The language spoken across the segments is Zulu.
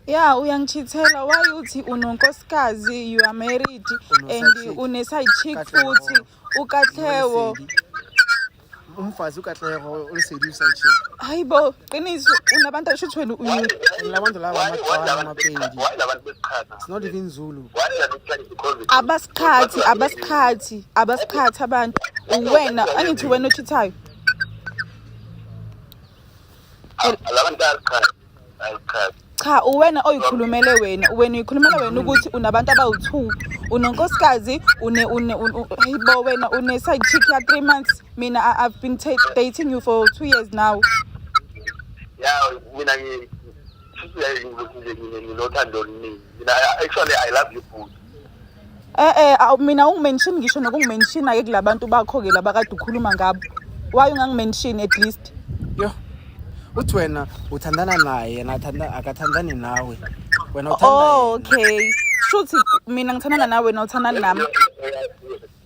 ya uyangichithela why uthi unonkosikazi you are married and une-side chick futhi ukatlewo umfazi ukatlewo olisedi uside chick hayi bo qiniso unabantu ashuthi wena uyu labantu laba amaqwana amapendi it's not even zulu abasikhathi abasikhathi abasikhathi abantu uwena angithi wena ochithayo labantu asikhathi cha uwena oyikhulumele wena wena uyikhulumela wena ukuthi unabantu abawu-two unonkosikazi bo wena une-side chick ya-three months mina i've been dating you for two years now ya mina nginothando oluningi mina actually i love you boo Eh eh aw mina ungimention ngisho nokungimention ake kulabantu bakho ke laba kade ukhuluma ngabo. Why ungangimention at least? Yo. Uthi wena uthandana naye yena athanda akathandani nawe. Wena Oh uthanda okay. Shuthi mina ngithandana nawe wena uthandana nami.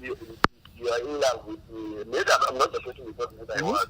You are in love with me. Maybe I'm not the person you're talking about.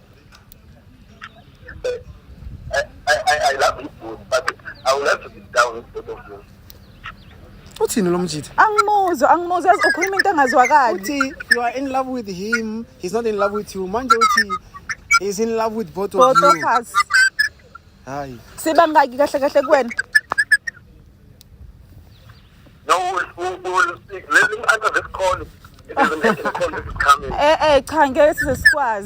uthini lo mjitha angimuzwa angimuzwa yazi ukhuluma into engazwakali uthi you are in love with him he's not in love with you manje uthi he's in love with both of both of you us hayi siba ngaki kahle kahle kuwena no we'll, we'll speak let him answer this call it isn't it call is coming eh eh cha ngeke size sikwazi